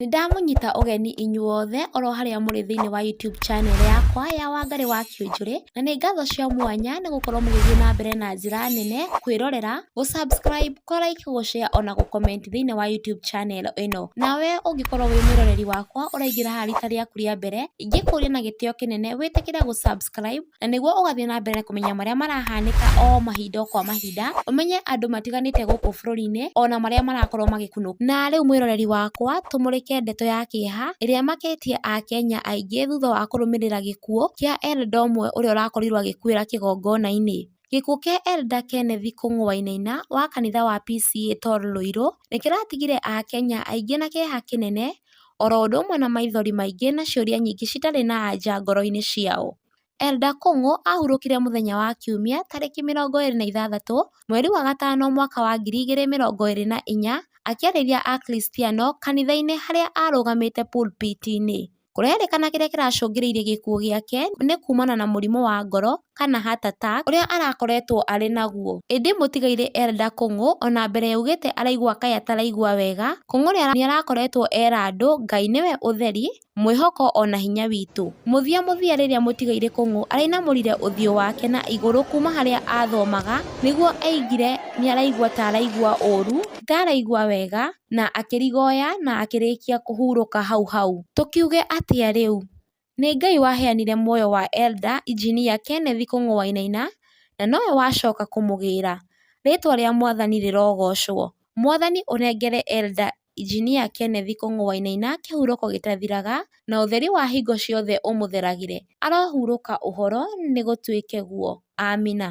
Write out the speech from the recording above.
Nĩ ndamũnyita ũgeni inyuothe oro harĩa mũrĩ thĩinĩ wa YouTube channel yakwa ya Wangari wa Kĩũnjũrĩ, na nĩ ngatho cia mwanya nĩ gũkorwo mũgĩthiĩ na mbere na njĩra nene kwĩrorera, gũ subscribe, kũ like, gũ share ona gũ comment thĩinĩ wa YouTube channel ĩno. Nawe ũngĩkorwo wĩ mwĩroreri wakwa ũraingĩra haha rita rĩaku rĩa mbere, ingĩkũria na gĩtĩo kĩnene wĩtĩkĩre gũ subscribe. Na nĩguo ũgathiĩ na mbere kũmenya marĩa marahanĩka o mahinda o kwa mahinda, ũmenye andũ matiganĩte gũkũ bũrũri-inĩ, ona marĩa marakorwo magĩkunũka. Na rĩu mwĩroreri wakwa, tũmũrĩke ndeto ya kĩeha, ĩrĩa ĩmakĩtie Akenya aingĩ thutha wa kũrũmĩrĩra gĩkuũ, kĩa Eldo ũmwe ũrĩa ũrakorirwo agĩkuĩra kĩgongona-inĩ. Gĩkuũ kĩa Elder Kenneth Kũng'ũainaina wa kanitha wa PCEA Tor Lũirũ nĩ kĩratigire Akenya aingĩ na kĩeha kĩnene oro ũndũ ũmwe na maithori maingĩ na ciũria nyingĩ citarĩ na anja ngoro-inĩ ciao. Elder Kũng'ũ ahurũkire mũthenya wa Kiumia tarĩki mĩrongo ĩrĩ na ithathatũ mweri wa gatano mwaka wa ngiri igĩrĩ mĩrongo ĩrĩ na inya akĩarĩria Akristiano kanitha-inĩ harĩa arũgamĩte pulpit -inĩ. Kũrerĩkana kĩrĩa kĩracũngĩrĩirie gĩkuũ gĩake nĩ kumana na mũrimũ wa ngoro kana heart attack ũrĩa arakoretwo arĩ naguo. Ĩndĩ mũtigairĩ Elder Kũng'ũ ona mbere augĩte araigua kaĩ ataraigua wega, Kũng'ũ nĩarakoretwo era andũ Ngai nĩwe ũtheri, mwĩhoko ona hinya witũ. Mũthia mũthia rĩrĩa mũtigairĩ Kũng'ũ arainamũrire ũthiũ wake na igũrũ kuma harĩa athomaga nĩguo aigire nĩaraigua ta araigua ũru, ta araigua wega, na akĩrigoya na akĩrĩkia kũhurũka hau hau. Tũkiuge atĩa rĩu? Nĩ Ngai waheanire muoyo wa Elda Injinia Kenneth Kung'ũ Wainaina, na nowe wacoka kũmũgĩra. Rĩtwa rĩa Mwathani rĩrogocwo. Mwathani ũnengere Elda Injinia Kenneth Kung'ũ Wainaina kĩhurũko gĩtathiraga, na ũtheri wa hingo ciothe ũmũtheragĩre. Arohurũka ũhoro nĩ gũtuĩke guo. Amina.